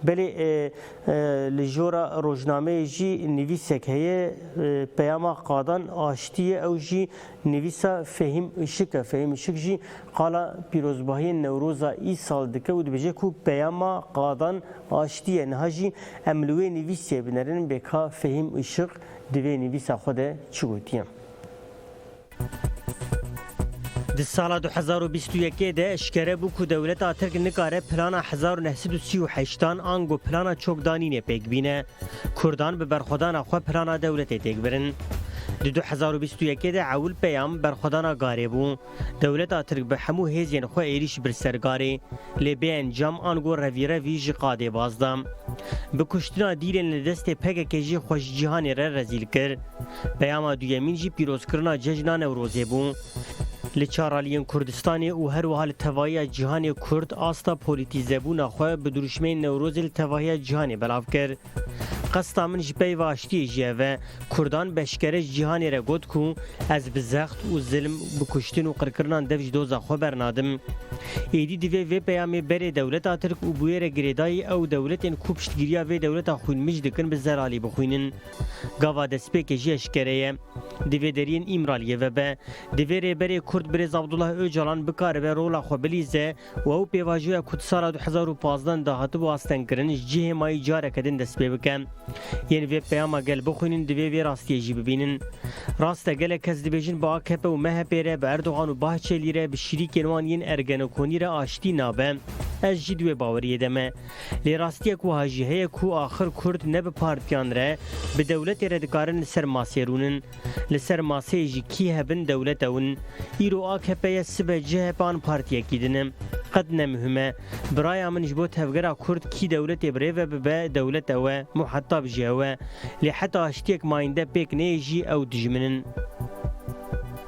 Belê li jora rojnameyê jî nivîsek heye peyama qadan aştî ye ew jî nivîsa Fehîm Işik e. Fehîm Işik jî qala pîrozbahiyên Newroza îsal dike û dibêje ku peyama qadan aştî ye. Niha jî em li wê nivîsiyê binerin bê ka Fehîm Işik di vê nivîsa xwe de çi gotiye. Di sala du hezar û bîst û yekê de eşkere bû ku dewleta Tirk nikare plana hezar û neh sed û sî û heşt an ango plana çokdanînê pêk bîne. Kurdan bi berxwedana xwe plana dewletê têk birin. Di du hezar û bîst û yekê de Ewil Peyam berxwedana Garê bû. Dewleta Tirk bi hemû hêzên xwe êrîş bir ser Garê. Lê bê encam an got revîrevî ji qadê baz da. Bi kuştina dîlên li destê pkk jî xwe ji cîhanê re rezîl kir. Peyama duyemîn jî pîrozkirina cejna Newrozê bû. Li çar aliyên Kurdistanê û her wiha li tevahiya cîhanê Kurd asta polîtîzebûna xwe bi dirûşmeyên Newrozê li tevahiya cîhanê belav kir. Qesta min ji peyva aştiyê jî ev e. Kurdan bi eşkere ji cîhanê re got ku ez bi zext û zilm, bi kuştin û qirkirinan dev ji doza xwe bernadim. Êdî divê vê peyamê berê dewleta Tirk û bûyerek girêdayî ew dewletên ku piştgiriya vê dewleta xwînmij dikin bi zeralî bixwînin. Gava destpêkê jî eşkere ye. Di vê deriyên Îmraliyê ve be. Divê Rêberê Kurd Birêz Abdullah Ocalan bikaribe rola xwe bilîze û ew pêvajoya ku di sala du hezar û pazdeh de hatibû astengkirin ji cihê mayî careke din dest pê bike. Yên vê peyama gel bixwînin divê vê rastiyê jî bibînin. Rast e gelek kes dibêjin bi akp û MHP'ê re, bi Erdogan û Bahçelî re, bi şîrîkên wan yên Ergenokonî re aştî nabe. Ez jî di wê baweriyê de me. Lê rastiyek wiha jî heye ku axir kurd ne bi partiyan re, bi dewletê re dikarin li ser masê rûnin. Li ser maseyê jî kî hev in dewlet ew in. Îro akp ye sibe chp an partiyekî din e. Qet ne muhim e. Biraya min ji bo tevgera kurd kî dewletê bi rê ve bibe dewlet ew e, muhetab jî ew e. Lê heta aştiyek mayînde pêk neyê jî ew dijmin in.